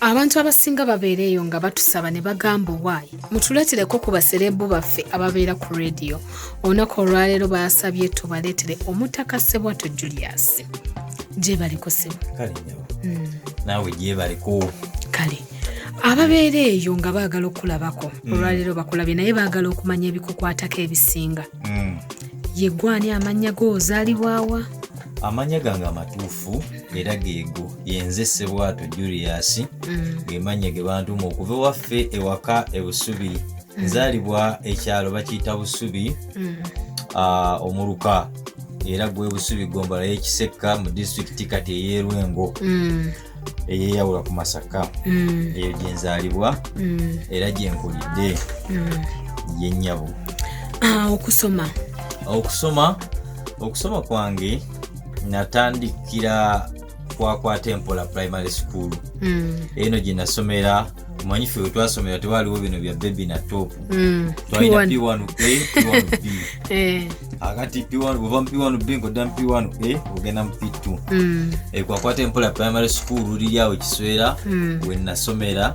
abantu abasinga babeera eyo nga batusaba ne bagamba owaayi mutuleetereko ku basereebu baffe ababeera ku rediyo olunaku olwaleero baasabye tubaleetere omutaka sebwato julius gyebaliko sebo hmm. naawe gyebaliko kale ababeera eyo nga baagala okulabako hmm. olwaleero bakulabye naye baagala okumanya ebikukwatako ebisinga hmm. yegwani amannya gozaalibwawa amannya gange amatuufu era geego yenze sebwato julius mm. gemanya ge bantuma okuva ewaffe ewaka ebusubi mm. nzalibwa ekyalo bakiyita busubi mm. ah, omuluka era gwe busubi gombala yekisekka mu disitulikiti kati eyerwengo eyeyawula ku masaka eyo gyenzalibwa era gyenkulidde yenyabo ah, okusoma okusoma okusoma kwange natandikira kwakwata empola primary school mm. eno gye nasomera manyi ffe we twasomera tewaliwo bino bya bebi na top mm. twalina p1 a p1 b eh. akati p1 bwova mu p1 b nkodda mu p1 a ogenda mu p2 mm. ekwakwata eh, empola primary school liri awo kiswera mm. we nasomera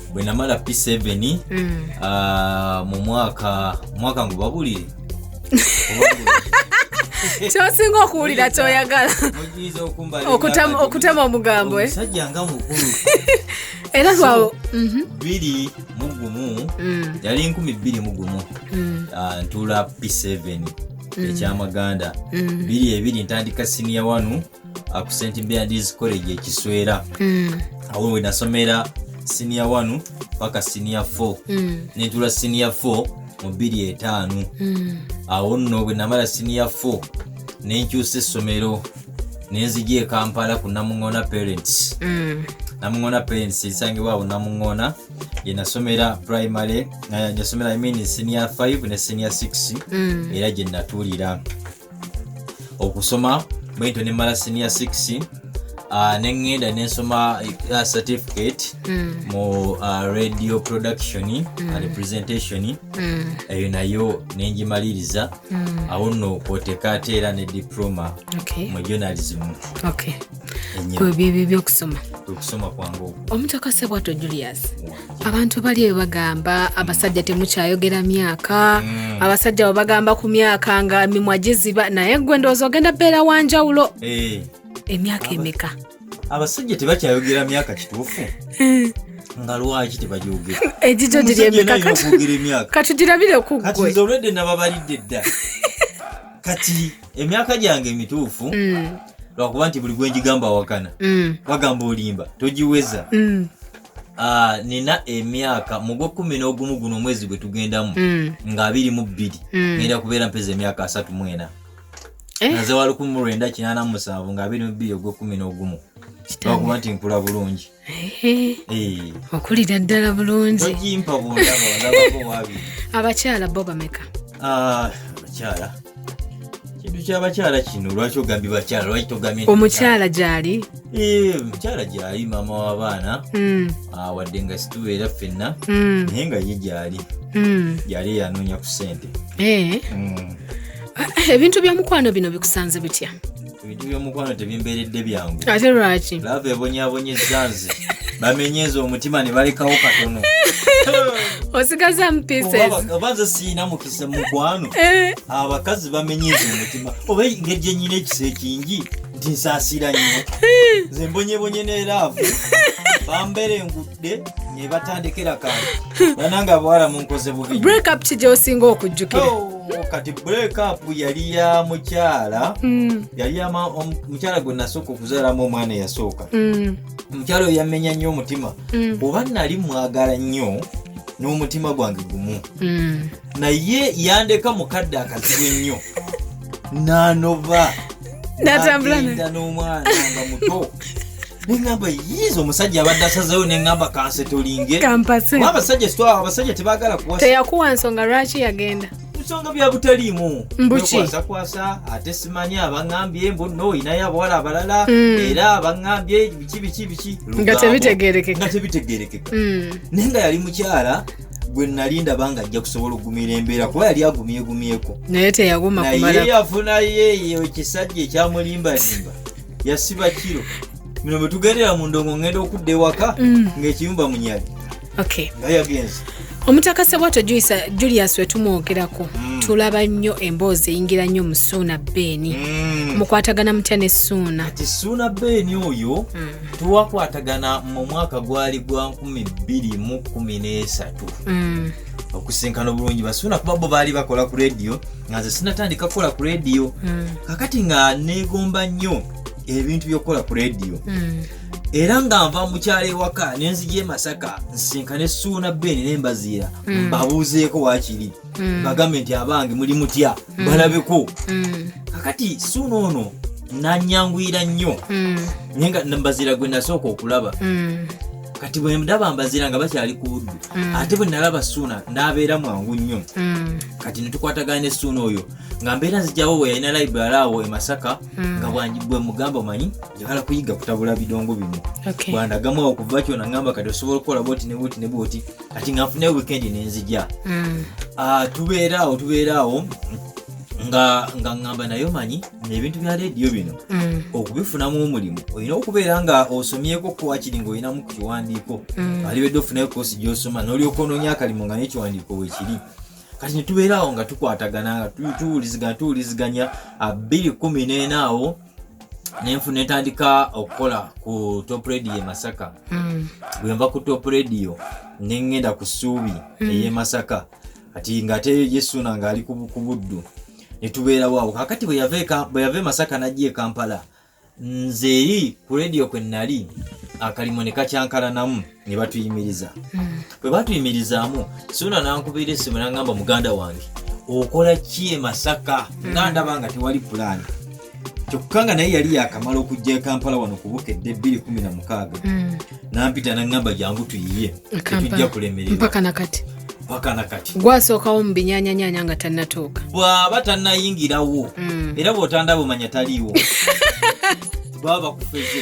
bwe namala p7 mm. uh, mu mwaka mwaka ngu babulire kyosinga okuwulira kyoyagala okutema omugambo eh? omusajja nga mukulu era lwawo mhm. biri mugumu mm. yali nkumi bbiri mugumu mm. ah, ntuula p7 mm. ekyamaganda biri ebiri ntandika siniya wanu uh, ku st beards college ekiswera mm. awo wenasomera siniya 1 paka siniya 4 mm. nentula siniya 4 mu bbiri etaano mm. awo nno bwe namala siniya 4 nenkyusa essomero nenzija ekampala ku namuŋona parents mm. namuŋona parents esangibwa awo namuŋona yenasomera primary yasomera imean siniya 5 ne siniya 6 mm. era gye natuulira okusoma bwentyo nemmala senior 6 uh, nengenda nensoma uh, certificate mm. mu uh, radio production mm. and presentation mm. eyo nayo nengimaliriza mm. awo no kwoteka ate era ne diploma okay. mu journalism okay. kwebyo ebyo byokusoma okusoma kwange omutaka sebwato julius abantu bali bebagamba abasajja temukyayogera myaka mm. abasajja webagamba ku myaka nga mimwa giziba naye gwe ndowooza ogenda beera wanjawulo eh. emyaka emeka abasajja tebakyayogera myaka kituufu eh. nga lwaki tebagyogera egijo giri emeka katugirabire kuggweolwedde nababalidde dda kati emyaka gyange emituufu mm. lwakuba nti buli gwenjigamba awakana mm. wagamba olimba togiweza Ah, nina emyaka mu gwekumi n'ogumu guno omwezi gwe tugendamu mm. nga abiri mu bbiri mm. genda kubeera mpeza emyaka asatu mwena eh? naze wa lukumi mu lwenda kinana mu musanvu nga abiri mu bbiri ogwekumi n'ogumu lwakuba nti nkula bulungi eh. Eh. okulira ddala bulungi ogimpa bundaba ndabako wabiri abakyala bo bameka ah, abakyala kintu kyabakyala kino lwaki ogambye bakyala lwaki togambye omukyala gyali omukyala gyali maama w'abaana hmm. ah, wadde nga situbeera ffenna hmm. naye nga ye gyali gyali hmm. yanoonya ku sente eh. ah, ebintu byomukwano bino bikusanze bitya ebintu byomukwano tebimberedde byangu ate lwaki lava ebonyabonyezza nze bamenyeza omutima ne balekawo katono osigazamu piesesoba nze siina mukisa mukwano eh. abakazi bamenyeza omutima oba engeri gyenyina ekisa ekingi nti nsaasira nnyo nze mbonyebonye ne laavu bambere engutu nebatandikira kantu banange abawala munkoze bubi break up kija osinga okujjukira oh, kati break up yali ya mukyala mm. yali mukyala gwe nasooka okuzaalamu omwana eyasooka mm. omukyala oyo yamenya nnyo omutima mm. oba nali mwagala nnyo n'omutima gwange gumu naye yandeka mukadde akazibu ennyo nanoba natambula n'omwana nga muto neŋamba yiiza omusajja abadde asazeyo neŋamba kansetolinge abasajja sitwa abasajja tebagala kuwateyakuwa nsonga lwaki yagenda nsonga byabutaliimu mbukikwasakwasa ate simanyi abaŋambye mbu no inayo abawala abalala mm. era abaŋambye biki biki biki nga tebitegerekeka nga tebitegerekeka mm. naye nga yali mukyala gwe nali ndaba nga ajja kusobola okugumira embeera kuba yali agumyegumyeko naye teyagumaye yafunayo eyo ekisajja ekyamulimbalimba yasiba kiro bino bwe tugendera mu ndongo ngenda okudda ewaka mm. ng'ekiyumba munyali nga yagenze omutaka sebwato julius wetumwogerako mm. tulaba nnyo emboozi eyingira nnyo mu suuna beeni mm. mukwatagana mutya ne suuna ti suuna beeni oyo mm. twakwatagana mu mwaka gwali gwa 213 mm. okusinkana obulungi basuuna kuba bo baali bakola ku rediyo nga nze sinatandika kukola ku rediyo mm. kakati nga negomba nnyo ebintu byokukola ku rediyo mm. era nga nva mukyalo ewaka nenzija emasaka nsinkane suuna beni nembaziira mbabuuzeeko wakiri mm. mm. bagambe nti abange muli mutya mm. balabeko mm. kakati suuna ono nanyanguyira nnyo mm. naye nga mbazira gwe nasooka okulaba mm. kati bwe ndaba mbazira nga bakyali ku buddu mm. ate bwe nalaba suuna n'abeera mwangu nnyo mm. kati netukwatagana ne suuna oyo nga mbeera nzijawo bwe yalina library awo e masaka mm. nga bwe mugamba omanyi njagala kuyiga kutabula bidongo bino okay. bwandagamu awo kuva kyona ngamba kati osobola okukola bwoti ne bwoti ne bwoti kati nga nfune weekend nenzija mm. ah, tubeeraawo tubeeraawo nga nga ngamba nayo manyi nebintu bya rediyo bino mm. okubifunamu omulimu olina okubeera nga osomyeko kuwakiri nga olinamu ku kiwandiiko mm. alibedde ofunayo kosi gyosoma nolyoka ononya akalimu nga nekiwandiiko wekiri kati netubeeraawo nga tukwatagana nga tuwuliziganya tuwuliziganya abiri kumi nenaawo nenfu netandika okukola ku top radio e masaka mm. bwenva ku top radio nengenda ku suubi mm. eye masaka ati ngate yesuna ngaali ku buddu netubeerawo awo kakati bweyava e masaka najja e kampala nze eri ku radio kwe nali akalimo ne kakyankalanamu ne batuyimiriza hmm. bwe batuyimirizaamu suna nankubira esimu nangamba muganda wange okola ki e masaka hmm. nga ndaba nga tewali pulaani kyokka nga naye yali yakamala okujja e kampala wano kubukedde 216 hmm. nampita nangamba jangu tuyiye tetujja kulemererwapaka nakati gwasookawo mu binyanyanyanya nga tannatuuka bw'aba tannayingirawo era bw'otandaba omanya taliiwo baba bakufeze